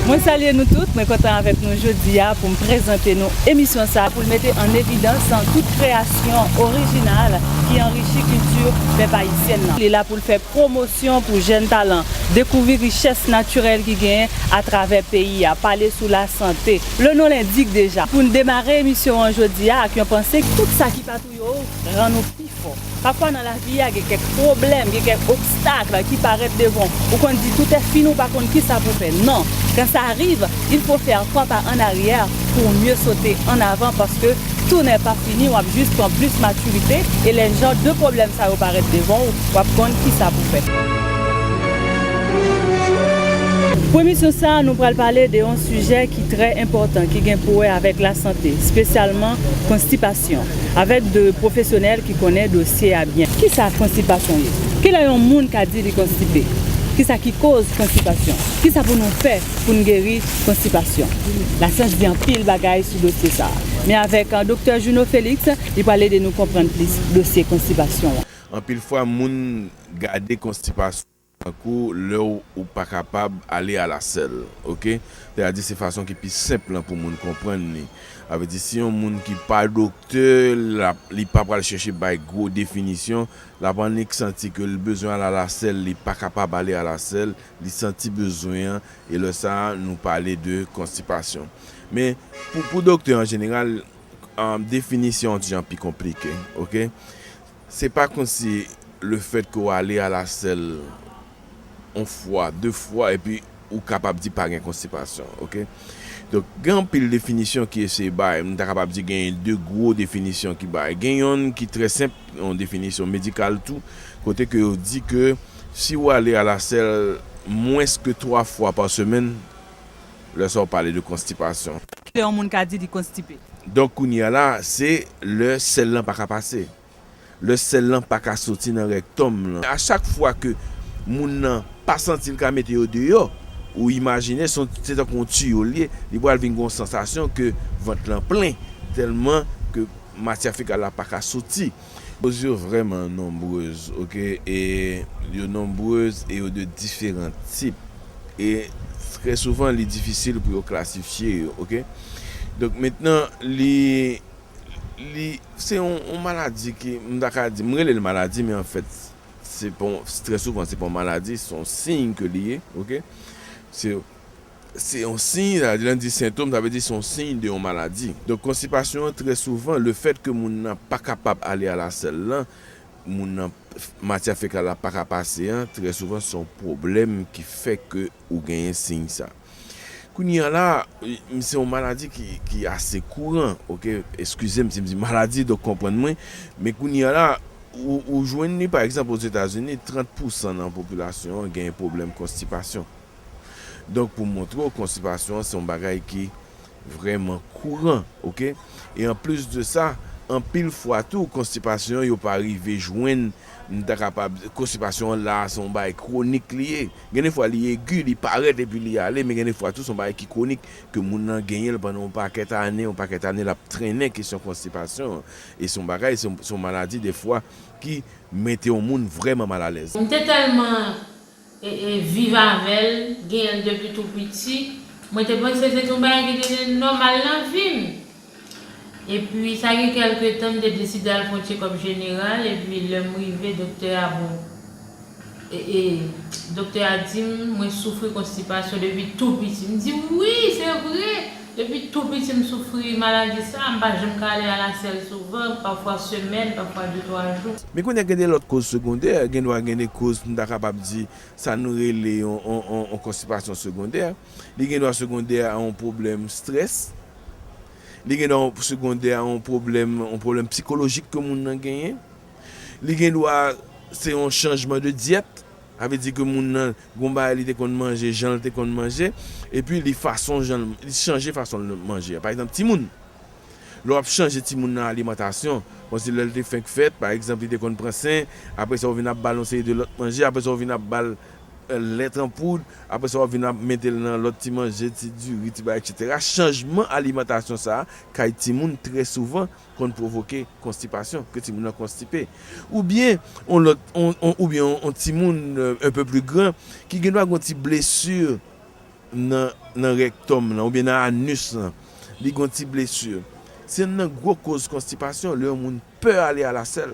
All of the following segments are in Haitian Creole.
Mwen salye nou tout, mwen kontan avèk nou jodi a pou m prezante nou emisyon sa pou l mete an evidans tout kreyasyon orijinal ki anrichi kilti pèp ayisyen nan. Li la pou l fè pwomosyon pou jèn talan, dekouvri richès natirèl ki genyen atravè peyi a, pale sou lasante. Le nom l'indique deja. Pou n demare emisyon an jodi a ak yon panse, tout sa ki pa. yo rann ou pi fò. Pafwa nan lavi a gen kèk pwoblèm, gen kèk obstakl ki parèt devan w. Ou konn di tout è fini ou pa konn kisa pou fè. Non, kan sa riv, il fo fè twa pa an aryè pou ou mye sote an avan paske tou nè pa fini wap jis pran plis matirite e lè jan de pwoblèm sa yo parèt devan ou wap konn kisa pou fè. Pou emisyon sa nou pral pale de yon sijè ki trè enpòtan ki gen pou wè avèk lasante, spesyalman konstipa. Konsitasyon avèk 2 pwofesyonèl ki konnen dosye a byen. Kisa konstipasyon ye? Kilè yon moun ka di li konstipe? Kisa ki koz konstipasyon? Kisa pou nou fè pou n geri konstipasyon? Lasyans di anpil bagay sou dosye sa a. Men avèk Doktè Juno Felix, li pral ede nou konprann plis dosye konstipasyon an. Anpil fwa moun gade konstipasyon. Tankou lè w ou pa kapab ale alasèl. Ok. Lè a di se fason ki pi senp lan pou moun konprann li. A vle di si yon moun ki pa doktè l ap li pa pral chèche bay gwo definisyon. L ap annik santi ke l bezwen al alasèl li pa kapab ale alasèl. Li santi bezwen an e lè sa a nou pale de konstipasyon. Men pou doktè an jeneral definisyon an ti jan pi konplike. Ok. Se pa konsi le fèt ke w ale a la sèl yon fwa, de fwa epi ou kapab di pa gen konstipasyon ok. Donk gen anpil definisyon ki eseye bay, m ta kapab di gen de gwo definisyon ki bay. Gen yonn ki trè senp, yon definisyon medikal tou, kote ke yo di ke si ou ale a la sèl mwens ke twa fwa pa semèn, Lè sa ou pale de konstipasyon. Ki lè yon moun ka di li konstipe? Donk kounye a la, se lè sèl lan pa ka pase. Lè sèl lan pa ka soti nan rèktòm lan. A chak fwa ke moun nan pa santi l ka mete yo deyò, ou imajine se yon, se tankou yon tiyo l ye, li pral vin gen yon sansasyon ke vant lan plen, tèlman ke matyè fekal la pa ka soti. Koz yo vrèman nonbrez ok e yo nonbrez e yo de diferan tip e trè souvan li difisil pou yo klasifye yo ok donk mentnan li li se yon yon maladi ki m ta ka di m rele l maladi men anfèt se pa yon trè souvan se pa yon maladi se yon siy ke li ye ok se Se yon siy, sa vle di lè n di sentom sa vle di se yon siy de yon maladi. Donk konstipasyon an trè souvan le fèt ke moun nan pa kapab ale a la sèl lan, moun nan matyè fekal la pa ka pase an trè souvan se yon pwoblèm ki fè ke ou genyen siy sa. Kounye an la se yon maladi ki ase kouran ok, eskize m si m di maladi donk konprann mwen, men kounye an la ou jwenn li pa egzanp Ozetazini 30 pousan nan popilasyon an genyen pwoblèm konstipasyon. Donk pou montre w konstipasyon an se yon bagay ki vrèman kouran ok e anplis de sa anpil fwa tou konstipasyon yo pa rive jwenn m ta kapab konstipasyon an la se yon bagay kwonik li ye gen de fwa li egi li parèt epi li ale men gen de fwa tou se yon bagay ki kwonik ke moun nan genyen l pandan yon pakèt ane yon pakèt ane l ap trennen kesyon konstipasyon an e se yon bagay se yon maladi de fwa ki mete yon moun vrèman malalèz. M te tèlman viv avèl, genyenl depi tou piti, mwen te panse se te yon bagay ki te nòmal nan vim, epi sa gen kèlke tan m te deside al fè yon tchekòp jeneral epi lèm rive doktè a bon doktè a dim mwen soufri konstipasyon depi tou piti, m di wi se vre! Depi tou piti m soufri maladi sa, m pa janm ka ale a la sèl souvan, pafwa semèn, pafwa de twa jou. Men kounye a gen de lòt koz segondè, gen dwa gen de koz m ta kapab di sa nou rele yon konstipasyon segondè, li gen dwa segondè a yon pwoblèm strès, li gen dwa segondè a yon pwoblèm, yon pwoblèm psikolojik ke moun nan genyen, li gen dwa se yon chanjman de dyèt. Sa vle di ke moun nan gon bagay li te konn manje, jan l te konn manje, epi li fason jan l, li chanje fason l manje. Pa egzanp, timoun, lè w ap chanje timoun nan alimantasyon, kòmsi lè l te fenk fèt, pa egzanp, li te konn pran sen, apre sa ou vin ap ba l yon seri de lòt manje, apre sa ou vin ap ba l lèt an poud, apre sa w ap vin ap mete l nan lòt ti manje, ti diri, ti bagay, eksetera. Chanjman alimantasyon sa a kay timoun trè souvan konn pwovoke konstipasyon, ke timoun nan konstipe. Oubyen yon lòt, oubyen yon timoun un peu plus grand ki gen dwa gen yon ti blesu nan nan rèktòm lan oubyen nan anus lan, li gen yon ti blesu. Se youn nan gwo koz konstipasyon lè yon moun pè ale a la sèl.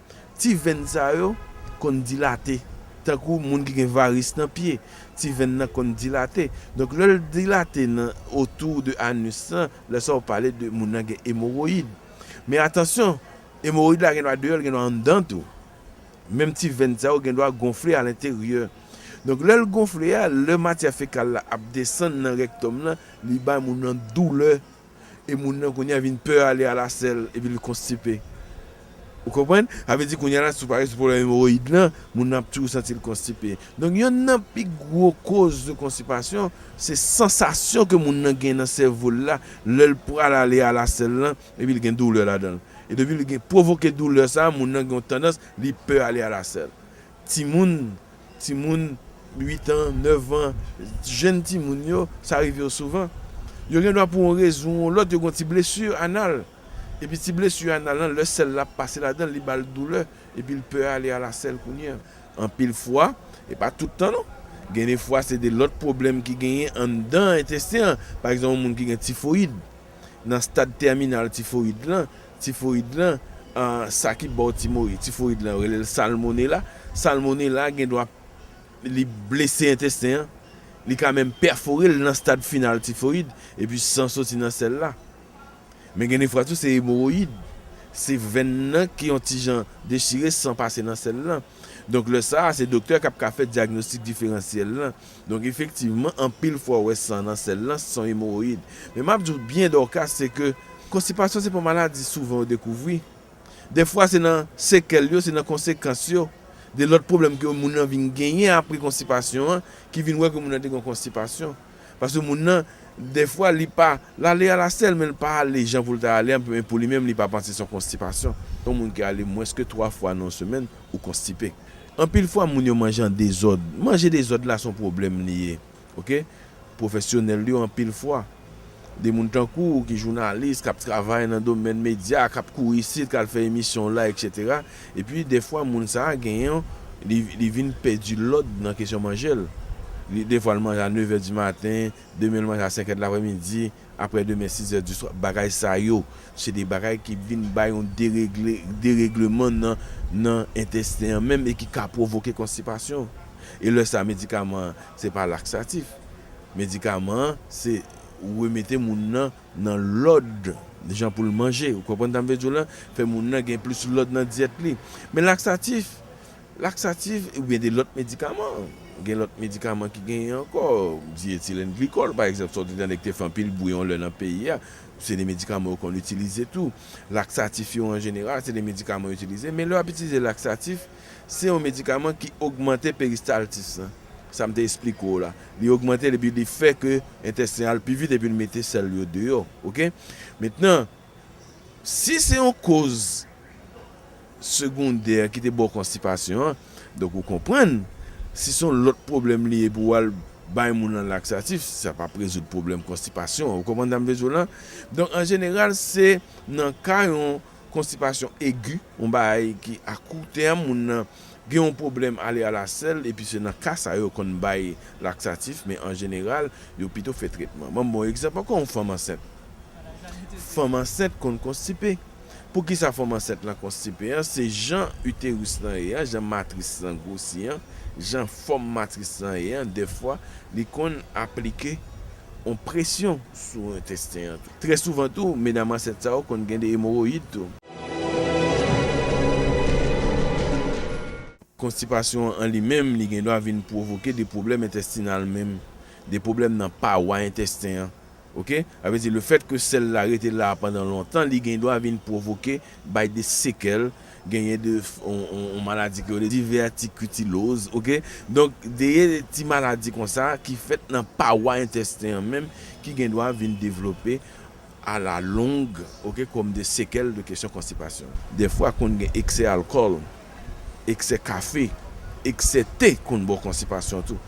Ti venn sa yo konn dilate, tankou moun ki gen varis nan pye, ti venn nan konn dilate. Donk lè l dilate nan otou de anus lan, lè sa ou pale de moun nan gen emoroyid. Men atansyon, emoroyid la gen dwa deyò, l gen dwa anndan tou. Menm ti venn sa yo gen dwa gonfle alenteryè. Donk lè l gonfle a, lè matyè fekal la ap desann nan rèktòm lan, li bay moun nan doulè. E moun nan kounye a vin pè ale alasèl epi li konstipe. Ou konprann? Sa vle di kounye a la si w pale sou pwoblèm emowoyid lan, moun nan ap toujou santi l konstipe. Donk yonn nan pi gwo koz de konstipasyon se sansasyon ke moun nan gen nan sèvo l la lè l pral ale alasèl lan epi l gen doulè ladan l. E depi l gen pwovoke doulè sa a, moun nan gen yon tandans li pè ale alasèl. Timoun, timoun 8 an, 9 an, jenn timoun yo, sa rive yo souvan. Yo gen dwa pou yon rezon ou lòt yo gen yon ti blesu anal. Epi ti blesu anal lan lè sèl la ap pase ladan l li ba l doulè epi l pè ale ala sèl kounye an. Anpil fwa, e pa tout tan non, gen de fwa se de lòt pwoblèm ki genyen anndan entesten an, pa egzanp yon moun ki gen tifoyid. nan stad tèminal tifoyid lan, tifoyid lan, sa ki ba w tifoyid lan yo rele l salmonela, salmonela gen dwa li blese entesten an, li ka menm pèfore l nan stad final tifoyid, epi san soti nan sèl la. Men gen de fwa tou se emowoyid, se venn nan ki yon ti jan dechire san pase nan sèl lan. Donk lè sa a se doktè k ap ka fè dyagnostik diferansyèl lan, Donk efektivman anpil fwa ou wè san nan sèl lan se yon emoroyid. Men map di w byen Dorcas se ke konstipasyon se pa yon maladi souvan yo dekouvri. Dèfwa se nan sekèl yo, se nan konsekans yo de lòt pwoblèm ke moun lan vin genyen apre konstipasyon an ki vin wè ke moun lan te gen yon konstipasyon. Paske moun lan dèfwa li pa, l ale a la sèl men l pa ale jan pou l ta ale a men pou li menm li pa panse se yon konstipasyon. Yon moun ki ale mwens ke 3 fwa nan yon semèn ou konstipe. Anpil fwa moun yo manje an dezòd. Manje dezòd la son pwoblèm li ye ok. Pwofesyonèl yo anpil fwa, de moun tankou w ki jounalis, k ap travay nan domèn medya, k ap kouri isit, k al fè emisyon w la eksetera, epi dèfwa moun sa a gen yon, li, li vin pèdi lòd nan kesyon manje l. Li, dèfwa l manje a nevè dimaten, demen l manje a senkè delaprèmidi, Aprè demen sizè di swa, bagay sa yo, se de bagay ki vin bay yon deregle, deregleman nan, nan entesten an menm e ki ka pwovoke konstipasyon. E lè sa medikaman an se pa laksatif. Medikaman an se remete moun nan nan lòd jan pou l manje. Ou konprann sa m vle di w la? Fè moun nan gen plis lòd nan dyèt li. Men laksatif. Laksatif oubyen de lòt medikaman. Gen lòt medikaman ki genyen ankò, dietilenglikòl pa egzanp sa w te tande ki te fè anpil bwi yon lè nan peyi a, se de medikaman yo konn itilize tou. Laksatif yo an jeneral se de medikaman yo itilize men lè w ap itilize laksatif se yon medikaman ki ogmante peristaltis lan, sa m te esplike w la, li ogmante l epi li fè ke entesten al pi vit epi l mete sèl yo deyò ok. Mentnan. Si se yon koz segondè ki te ba w konstipasyon an, donk ou konprann, si se yon lòt pwoblèm li ye pou w al bay moun lan laksatif, sa p ap rezoud pwoblèm konstipasyon an. Ou konprann sa m vle di w lan? Donk an jeneral se nan ka yon konstipasyon egi, yon bagay ki a kou tèm, moun lan Gen yon pwoblèm ale a la sèl epi se nan ka sa yo konn bay laksatif men an jeneral yo pito fè tretman. Banm bon egzanp ankò yon fanm ansent. Fanm ansent konn konstipe. Poukisa fanm ansent lan konstipe an se jan uterus lan ye an, jan matris lan gwosi an, jan fòm matris lan ye an dèfwa li konn aplike yon presyon sou entesten an tou. Trè souvan tou medam ansent sa yo konn gen de emoroyid tou. Konstipasyon an li menm li gendwa vin pwovoke de pwoblèm entestinal menm, de pwoblèm nan pawa entesten an ok, sa vle di le fèt ke sèl la rete la pandan lontan li gendwa vin pwovoke bay de sekèl, genyen de yon maladi ke yo rele divètikitiloz ok, donk deye ti maladi konsa ki fèt nan pawa entesten an menm ki gendwa vin devlope a la longue ok kòm de sekèl de kesyon konstipasyon. Dèfwa konn gen eksè alkòl, eksè kafe, eksè te konn ba w konstipasyon tou.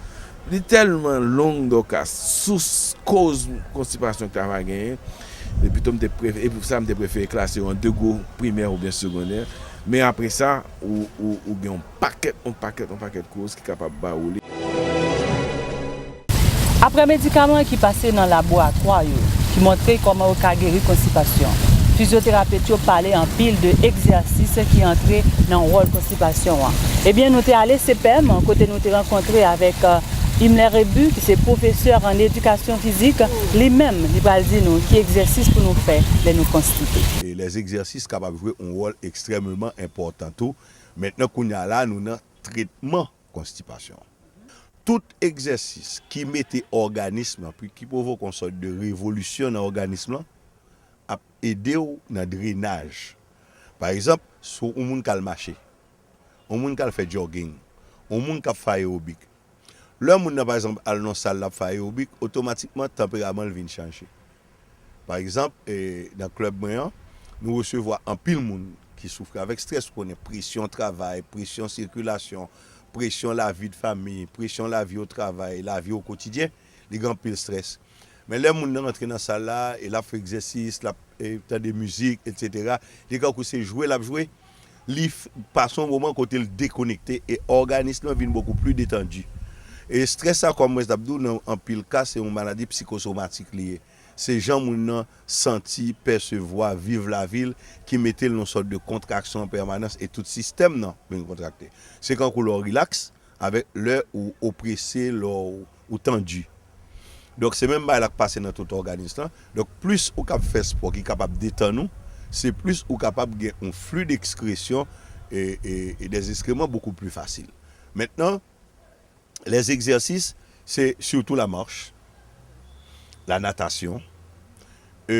Li tèlman long Dorcas, sous koz konstipasyon ki ta va genyen e pito m te prefere e pou sa m te prefere klase yo an 2 gwo, primè oubyen segondè men apresa ou gen yon. Pakèt on pakèt on pakèt koz ki kapab ba ou li. Aprè medikaman ki pase nan laboratwa yo ki montre kòman yo ka geri konstipasyon, fizyoterapet yo pale anpil de egzèsis ki antre nan wòl konstipasyon an. Ebyen nou te ale CPEM kote nou te rankontre avèk Himler Rebu ki se pwofesè an edikasyon fizik, li menm li pral di nou ki egzèsis pou nou fè lè nou konstipe. Lèzegzèsis kapab jwe on wòl ekstrèmeman enpòtan tou Mentnan kounya la nou nan tretman konstipasyon an. Tout egzèsis ki mete òganism lan pi ki pwovoke yon sòt de revolisyon nan òganism lan ap ede w nan drenaj. Pa egzanp, si yon moun k al mache, yon moun k al fè jogging, yon moun k ap fè ayewobik. Lè moun nan pa egzanp al nan yon sal l ap fè ayewobik, otomatikman tanperaman l vin chanje. Pa egzanp, nan klèb mwen an, nou resevwa anpil moun ki soufri avèk strès. Ou konnen, presyon travay, presyon sikilasyon, presyon lavi de fanmi, presyon lavi otravay, lavi okotidyen, li gen anpil strès. Men lè moun nan rantre nan sal la e l ap fè egzèsis, l ap tande mizik, etsetera, li kankou se jwe l ap jwe. Li pase yon moman kote l dekonekte e òganis lan vin bokou pli detandi. E strès sa kòm mwen t ap di w nan anpil ka se yon maladi psikosomatik li ye. Se jan moun nan santi, pèsevwa, viv lavi l ki mete l nan yon sòt de kontraksyon an pèmanans e tout sistèm nan vin kontrakte. Se kankou lè w rilaks, Avèk lè ou oprese, lè ou tandi. Donk se menm bagay la k pase nan tout òganis lan. Donk plis ou kab fè spò ki kapab detann ou, se plis ou kapab gen yon fli dexkresyon e dè eskreman bokou pli fasil. Mentnan lè egzèsis se sitou la march, la natasyon e.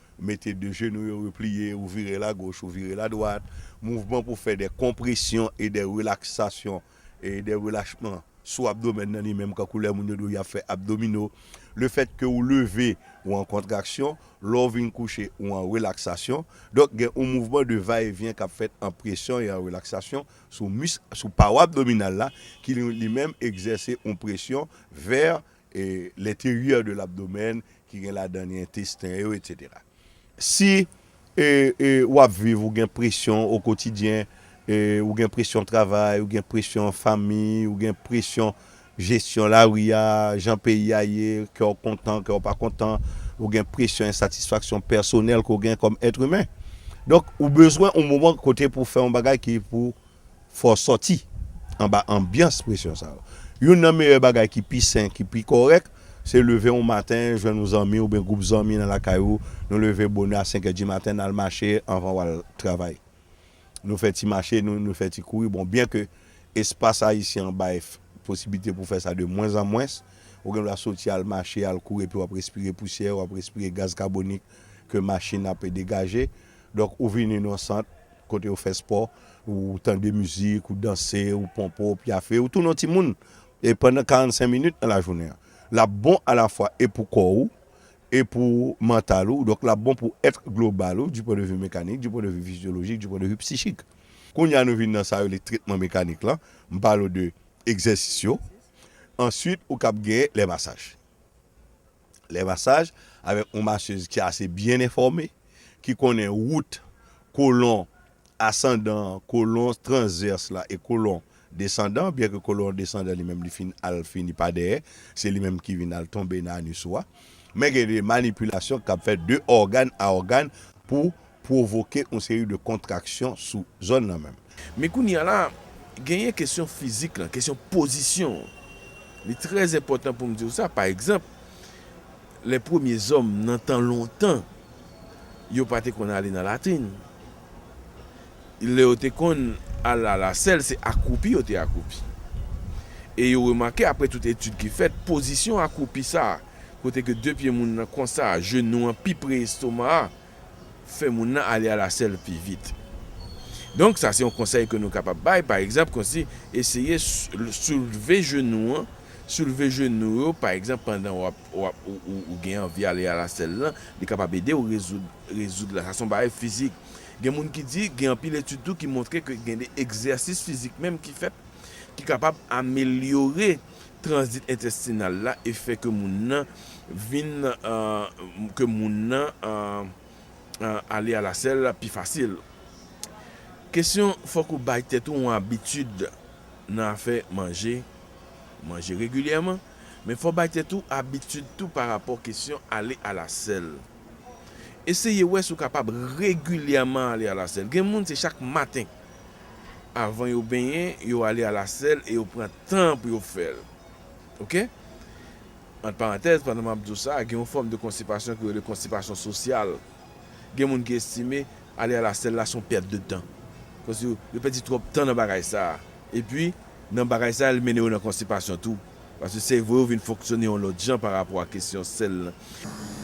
Mete de jenou yo repliye, ou vire la goch, ou vire la dwat. Mouvman pou fè de konpresyon e de relaksasyon e de relachman sou abdomèn nan li menm kankou lè moun yo di w y ap fè abdomino. Le fèt ke ou leve, ou an kontraksyon, lè w vin kouche, ou an relaksasyon. Donk gen yon mouvman de va e vyen k ap fèt an presyon e an relaksasyon sou misk, sou pawa abdominal la ki li menm egzèse yon presyon vè E l'interieur de l'abdomen ki gen ladan li entesten yo etc. Si e e wap viv ou gen presyon o kotidyen e ou gen presyon travay, ou gen presyon fanmi, ou gen presyon jesyon lari a, jan peyi a ye, kè w kontan, kè w pa kontan, ou gen presyon ensatisfaksyon pèsonèl ke w gen kòm èt imen. Donk ou bezwen on moman kote pou w fè yon bagay ki pou Fò w sòti anba anbyans presyon sa yo. Youn nan meyè bagay ki pi sen, ki pi kòrèk, se leve yon maten, jwenn yon zanmi oubyen gwoup zanmi nan lakay ou, nou leve bonè a senkè dimaten, n al mache anvan w al travay. Nou fè ti mache, nou fè ti kouri. Bon, byenke espas Ayisyen an bay posiblite pou fè sa de mwens an mwens, ou gen dwa soti al mache, al kouri epi w ap respire pousyè, w ap respire gaz kabonik ke machin ap degaje. Donk, ou vini nan yon sant, Kote ou fè spò, ou tande mizik, ou danse, ou ponpe, ou pyafe, ou tounen yon ti moun e pandan 45 minit nan lajounen an. L ap bon alafwa e pou kò ou e pou mantal ou, donk l ap bon pou èt global ou, di pwen de vi mekanik, di pwen de vi fizyolojik, di pwen de vi psichik. Kounye a nou vin nan sa yo rele tretman mekanik lan, m pale w de egzèsis yo, answit ou kab gen lè masaj. Lè masaj avèk yon masez ki ase byen enfòme, ki konnen wout kolon asandan an, kolon transvèse la e kolon desandan an, byenke kolon desandan li menm li fin al fini pa dèyè, se li menm ki vin al tonbe nan anis ou a. Men gen de manipilasyon k ap fèt de ògàn a ògàn pou pwovoke yon seri de kontraksyon sou zòn nan menm. Men kounye a la, genyen kesyon fizik lan, kesyon pozisyon an. Li trè enpòtan pou m di w sa, pa egzanp, lè premye zòm nan tan lontan, yo pa te konn ale nan latrin. Lè yo te konn al a la sèl, se akwoupi yo te akwoupi. E yo remake, apre tout etid ki fèt, pozisyon akwoupi sa a, kote ke de pye moun nan konsa, jenou an pi pre estoma a, fè moun nan ale a la sèl pi vit. Donk sa se yon konsèy ke nou kapab bay, pa egzanp konsi eseye soulve jenou an, soulve jenou yo pa egzanp pandan wap wap ou gen anvi ale a la sèl lan, li kapab edew rezoud rezoud la, sa son bagay fizik. Gen moun ki di, gen anpil etid tou ki montre ke gen de egzèsis fizik menm ki fèt ki kapab amelyore tranzit entestinal la e fè ke moun nan vin ke moun nan ale a la sèl pi fasil. Kesyon fòk ou bay tèt ou yon abitid nan afè manje, manje regilyèman, men fò bay tèt ou abitid tou pa rapò kesyon ale a la sèl. Eseye wè si ou kapab regilyèman ale a la sèl. Gen moun se chak maten. avan yo benyen yo ale a la sèl e yo pran tan pou yo fèl ok ant parantèz pandan map diw sa gen yon fòm de konstipasyon ki rele konstipasyon sosyal gen moun ki estime ale a la sèl la son pèt de tan paske yo pèdi twòp tan nan bagay sa epi nan bagay sa li mennen yo nan konstipasyon tou. Paske sèvo yo vin fonksyone yon lòt jan pa rapò a kesyon sèl lan.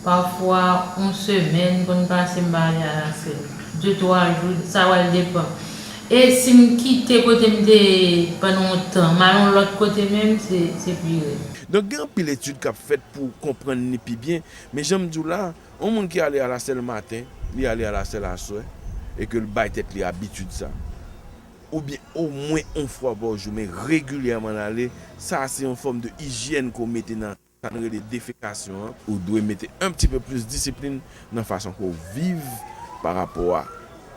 Pafwa yon semèn konn pase m pa ale a la sèl. De twa jou, sa pral depan. E si m kite kote m te ye pandan yon tan, m al yon lòt kote menm, se pi rèd. Donk gen anpil etid k ap fèt pou konprann li pi byen. Men jan m di w la, yon moun ki ale a la sèl maten, li ale a la sèl aswè e ke l bay tèt li abitid sa. oubyen omwen on fwa pa jou men regilyèman nan ale, sa a se yon fòm de ijyèn ke w mete nan sa nou rele defekasyon an. Ou dwe mete un petit peu plus disiplin nan fason ke w viv pa rapò a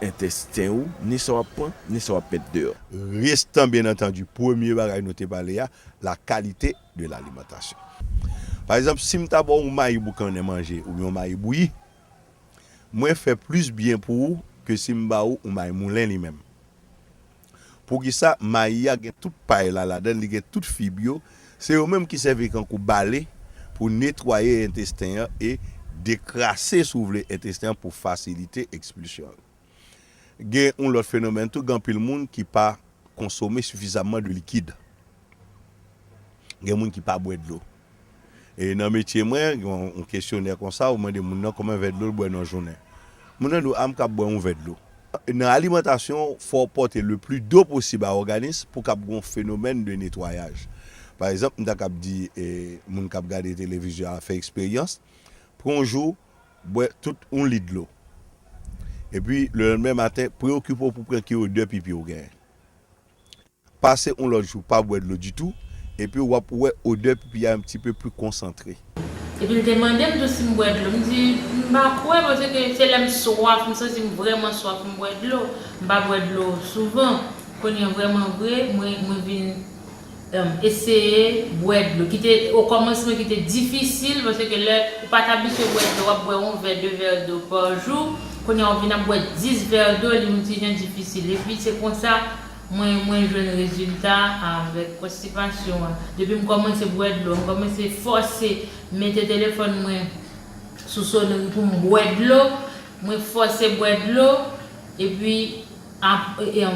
entesten ou, ni sa w ap pran, ni sa w ap met deyò. Restan byen antandu premye bagay nou te pale a, la qualité de l'alimentation. Pa egzanp, si m ta ba w on mayi boukannen manje oubyen on mayi bouyi, Mwen fè plis byen pou ou ke si m ba ou ou may moulen li menm. Poukisa mayi a gen tout pay la ladan l, li gen tout fib yo, se yo menm ki sèvi kankou bale pou netwaye entesten an e dekrase si w vle entesten an pou fasilite ekspilsyon l. Gen yon lòt fenomèn tou, gen anpil moun ki pa konsome sifizamman de likid. Gen moun ki pa bwè dlo. E nan metye mwen, gen yon kesyonè konsa, ou mande moun nan konbyen vè dlo l bwè nan jounen. Moun nan di w, a m kab bwè yon vè dlo. Nan alimantasyon, fò w pòte le pli do posib a òganis pou kab gen yon fenomèn de netwayaj. Pa egzanp, m ta kab di moun k ap gade televizyon a fè eksperyans, pran yon jou, bwè tout yon lit dlo. Epi, lelanmen maten, preyokipe w pou pran ki odè pipi w genyen. Pase on lòt jou pa bwè dlo ditou, epi wap wè odè pipi a un petit peu plus concentré. Epi l te mande m tou si m bwè dlo. M di, M pa kwè paske se lè m swaf, m santi m vrèman swaf m bwè dlo. M pa bwè dlo souvan. Kounye vrèman vre, mwen mwen vin eseye bwè dlo. Ki te okòmansman ki te difisil paske lè ou pa t abitye bwè dlo, w ap bwè on vè, de vè do pa jou. Kounye a ou vin ap bwè 10 vè do, li on ti jan difisil. Epi se konsa Mwen mwen jwenn rezilta avèk konstipasyon an. Depi m kòmanse bwè dlo, m kòmanse fòse mete telefòn mwen sou soneri pou m bwè dlo, mwen fòse bwè dlo epi aprè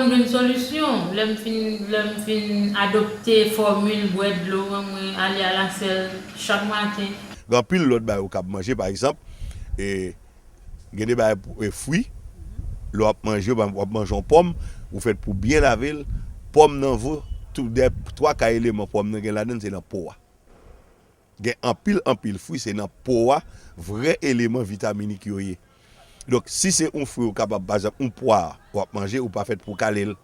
m jwenn solisyon, lè m fin lè m fin adopte fòmil bwè dlo an mwen ale alasèl chak maten. Gen anpil lòt bagay ou kab manje pa egzanp. Gen de bagay pou e fwi, lè wap manje yo, wap manje yon pòm, ou fèt pou byen lave l, pòm nan vo tou dè, twa ka eleman pòm nan gen ladan se nan po a. Gen anpil anpil fwi se nan po a vrè eleman vitaminik yo ye. Donk si se yon fwi ou kapab pa egzanp yon pwa wap manje ou pa fèt pou kale l.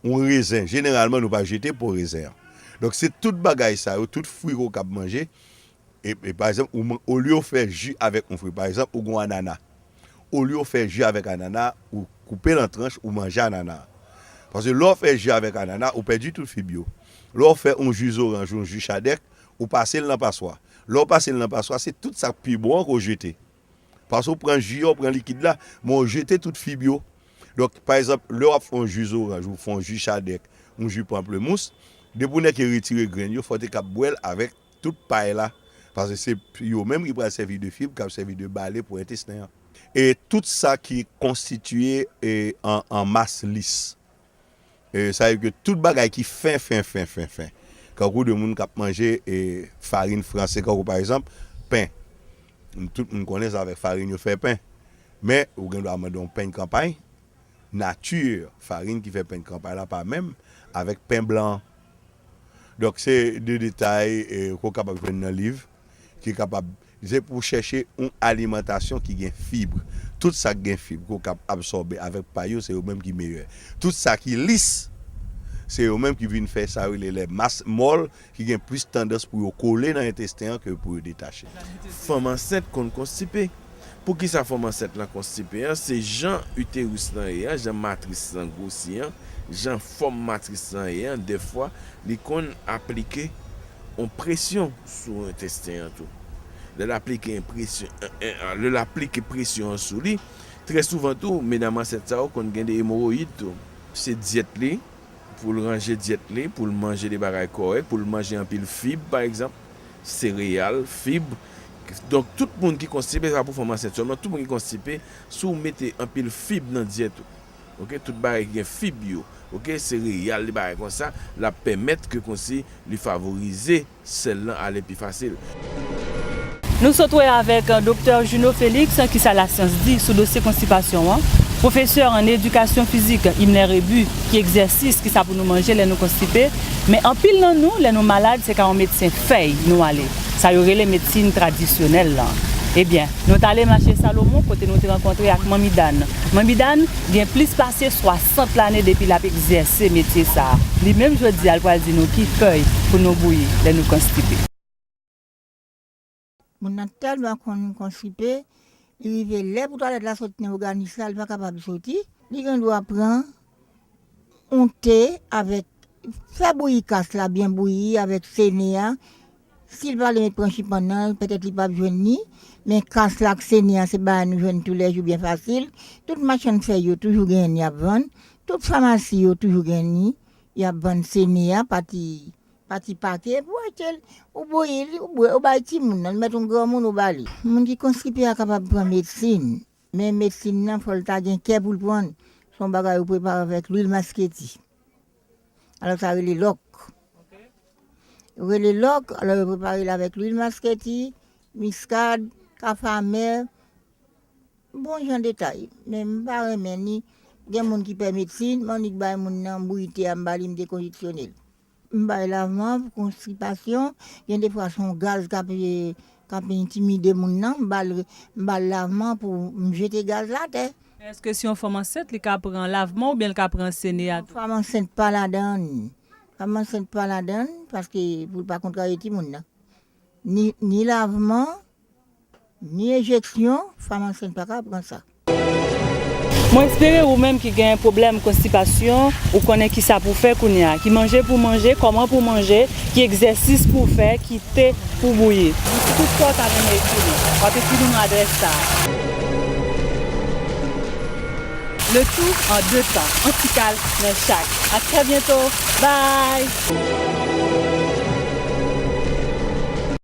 Yon rezen jeneralman nou pa jete po rezen an. Donk se tout bagay sa yo, tout fwi ou kab manje E pa egzanp ou man olye ou fè ji avèk yon fri pa egzanp ou gen yon anana olye ou fè ji avèk anana ou koupel an tranch ou manje anana a paske lè ou fè ji avèk anana ou pèdi tout fib yo lè ou fè yon ji zoranj yon ji chadèk ou pasel nan paswa lè ou pasel nan paswa se tout sak pi bon an ke ou jete paske ou pran ji a ou pran likid la men ou jete tout fib yo donk pa egzanp lè wap fè yon ji zoranj ou fè yon ji chadèk yon ji panplemous depi ou nèke retire grenn yo fòw te kab bwèl avèk. Tout pay la, paske se yo menm ki pral sèvi de fib kap sèvi de bale pou entesten an. E tout sa ki konstitiye an mas lis. Sa vle di ke tout bagay ki fen, fen, fen, fen, fen. Kankou de moun kap manje farin franse kankou pa egzanp pen. Tout moun konnen se avèk farin yo fè pen. Men ou gen dwa mande yon pen kanpay, nati farin ki fè pen kanpay la pa menm avèk pen blan an. Donk se de detay ke w kapab jwenn nan liv ki kapab, se pou chèche yon alimantasyon ki gen fib. Tout sa ki gen fib ke w kab absòbe avèk pay yo se yo menm ki meyè. Tout sa ki lis se yo menm ki vin fè sa yo rele lè mas mòl ki gen plis tandans pou yo kole nan entesten an ke pou yo detache. Fanm ansent konn konstipe. Poukisa fòm ansèt lan konstipe an? Se jan uterus lan ye an, jan matris lan gwosi an, jan fòm matris lan ye an, dèfwa li konn aplike yon presyon sou entesten an tou. Lè l aplike yon presyon, lè l aplike presyon an sou li, trè souvan tou, medam ansent sa yo konn gen de emoroyid tou. Se dyèt li, pou l ranje dyèt li, pou l manje de bagay kòrèk, pou l manje anpil fib pa egzanp. sereyal, fib, donk tout moun ki konstipe, se pa pou fanm ansent sèlman, tout moun ki konstipe, si w mete anpil fib nan dyèt ou, ok, tout bagay ki gen fib yo, ok, sereyal, li bagay konsa, l ap pèmèt ke konsi li favorize sèl lan ale pi fasil. Nou sot wè avèk Doktè Junot Felix ki sa lasyans di sou dosye konstipasyon an, pwofesè an edikasyon fizik Himler Rébu ki egzèsis ki sa pou nou manje lè nou konstipe, Men anpil nan nou lè nou malad se ka yon medsen fèy nou ale, sa yo rele medsin tradisyonèl lan. Ebyen, nou t ale mache Salomon kote nou te rankontre ak Manmi Dàn. Manmi Dàn gen plis pase 60 lane depi l ap egzèse metye sa a. Li menm jodi a l pral di nou ki fèy pou nou bouyi lè nou konstipe. Moun nan tèlman konn konstipe, li rive lè pou twalèt la sot nan oganis la, li pa kapab soti. Li gen dwa pran yon te avèk, fè bouyi kas la byen bouyi avèk sene a, si l pa vle met pranchipandan l, petèt li pap jwenn ni, men kas la ak sene a se bagay nou jwenn toulèjou byen fasil, tout machann fèy yo toujou genyen ni y ap vann, tout famasi yo toujou genyen ni y ap vann sene a, pati Pa ti pate epi w achte l, ou bouyi li, ou bwè, ou bay timoun nan, li mèt yon granmoun ou ba li. Moun ki konstipe a kapab pran medsin, men medsin nan fò l ta gen kè pou l pran l, se yon bagay yo prepare avèk lwil masketi, alò sa rele lòk, yo rele lòk, alò yo prepare l avèk lwil masketi, miskad, kafamè, bon jan detay, men m pa renmen ni, gen moun ki pè medsin, m annik bay moun nan, m bouyi te a m ba li, m dekonjeksyone l. M bay lavan pou konstipasyon, gen de fwa se yon gaz k ap entimide moun nan, m ba l lavan pou m jete gaz la atè. Èske si yon fanm ansent li ka pran lavman oubyen li ka pran senea tou? Fanm ansent pa ladan, fanm ansent pa ladan paske pou l pa kontrarye timoun nan. Ni lavman. Ni enjeksyon, fanm ansent pa ka pran sa. Mwen espere ou menm ki gen pwoblèm konstipasyon ou konnen kisa pou fè kounye a, ki manje pou w manje, kòman pou w manje, ki egzèsis pou w fè, ki te pou w bouyi. Si tout fwa w ta renmen ekri nou, w ap ekri nou nan adrès sa a. Le tou an 2 tan, 1 ti kal nan chak. A trè byento! Bye!